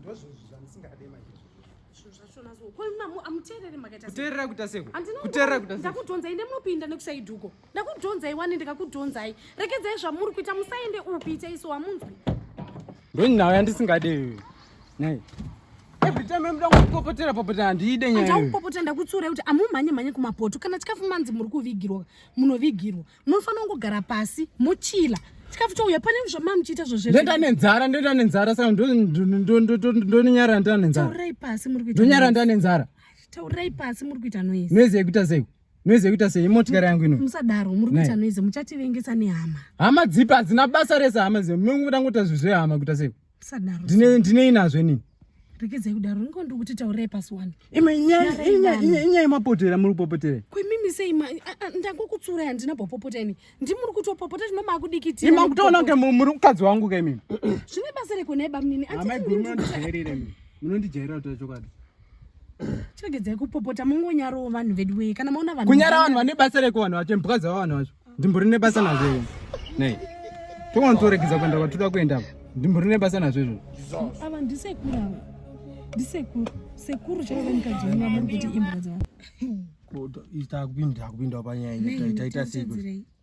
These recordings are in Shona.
ndozvozvo zvandisingade manje kuteerera kuita sekuteerera kuita ndakudhonzai nemunopinda nekusaiduko ndakudhonzai wani ndikakudhonzai rekedzai zvamuri kuita musaende upi ita iso wamunzwi ndonyawo yandisingade iyoyo nai every time amuda kupopotera popotera handiide nyaya ndakupopotera ndakutsuurai kuti amumhanye mhanye kumapoto kana chikafu manzi muri kuvigirwa munovigirwa munofanira kungogara pasi muchila chikafu chouya pane zvamama muchiita zvozvendoita nenzara ndoita nenzara saka ndonyara ndoita nenzara taurai pasi muri kuita ndonyara ndoita nenzara taurai pasi muri kuita noise noise yekuita sei noise yekuita sei imotikari yangu ino musadaro muri kuita noise muchativengesa nehama hama dzipa hadzina basa rese hama zimwe munguda ngoita zvizvehama kuita sei Sadaro. Ndine ndine inazvo ini. Rekedzai kudaro niko ndiri kuti taurei pasi wani. Ima inyaya inyaya inyaya mapotera muri kupopotera. Kwemimi sei ma ndangokutsura handina popopota ini. Ndi muri kutopopota zvino makudikitira. Ima kutoona kunge muri mukadzi wangu ka imimi. Zvine basa reko nei bamnini. Amai guru munondijairira imimi. Munondijairira kuti chokwadi. chegedzai kupopota mongonyarawo vanhu vedu wee kana maona vanhu kunyara vanhu vane basa reko vanhu vacho mhuka dzavo vanhu vacho ndimbo rine basa nazvo izvo nei tokwanotioregedza kuenda kwatoda kuenda apa ndimbo rine basa nazvo izvo ava ndisekuru ava ndisekuru sekuru chaive mukadzi wenyu vamuri kuti imbwa dzavo kuda ita kupinda kupinda panyaya taita sei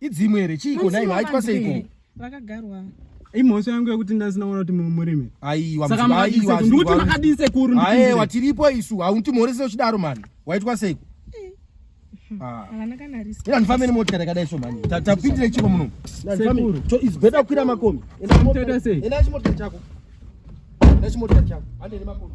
Idzimu here chiiko naiva haitwa seiko. Vakagarwa. imhosva yangu yekuti ndasina kuona kuti murimi aiwaaiwandikuti makadii sekuru aewa tiripo isu hauntimhorese uchidaro mani waitwa seiko andifambe nemotika takadai so mani tapindire chiko muno is better kukwira makombi enda chimotika chako enda chimotika chako andene makombi